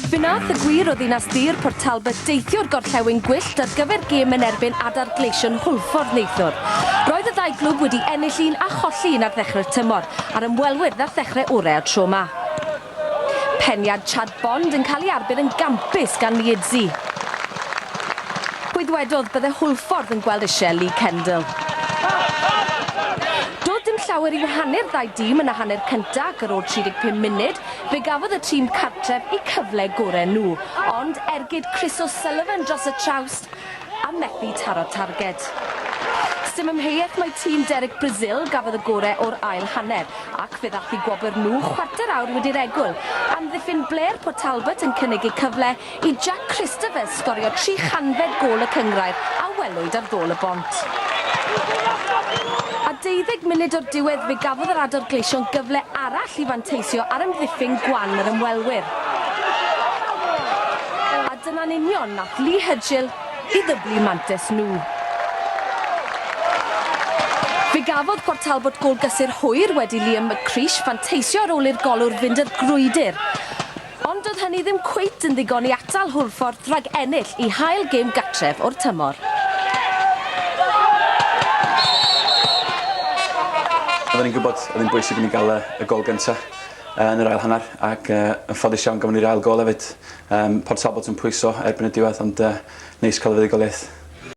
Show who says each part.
Speaker 1: Fe nath y gwir o ddinas dir Port Talbot deithio'r gorllewin gwyllt ar gyfer gêm yn erbyn Adar Gleision Hwlffordd neithiwr. Roedd y ddau glwb wedi ennill un a cholli un ar ddechrau'r tymor, a'r ymwelwyr ddath ddechrau orau o'r tro 'ma. Peniad Chad Bond yn cael ei arbed yn gampus gan Liedzi. Pwy ddwedodd bydde Hwlffordd yn gweld isie Lee Kendall? Doedd dim llawer i wahanu'r ddau dîm yn y hanner cynta ac ar ôl 35 munud fe gafodd y tîm cartref eu cyfle gore nhw. Ond ergyd Chris O'Sullivan dros y trawst a methu taro'r targed. Sdim amheuaeth mai tîm Derek Brazil gafodd y gore o'r ail hanner ac fe ddath i gwobr nhw chwarter awr wedi'r egwyl. Amddiffyn Blair Port Talbot yn cynnig eu cyfle i Jack Christopher sgorio tri chanfed gôl y cynghrair a welwyd ar ddôl y bont. A deuddeg munud o'r diwedd fe gafodd yr Adar Gleision gyfle arall i fanteisio ar amddiffyn gwan yr ymwelwyr. Dyna'n union nath Lee Hudgell i ddyblu mantes nhw. Fe gafodd Port Talbot gôl gysur hwyr wedi Liam McCreesh fanteisio ar ôl i'r golwr fynd i'r grwydr. Ond doedd hynny ddim cweit yn ddigon i atal Hwlffordd rhag ennill eu hail gêm gartref o'r tymor.
Speaker 2: Oedden ni'n gwybod oedd hi'n bwysig i ni gael y gôl gyntaf yn yr ail hanner ac yn ffodus iawn gafon ni'r ail gôl hefyd. Yym, Port Talbot yn pwyso erbyn y diwedd ond yy neis cael y fuddugoliaeth.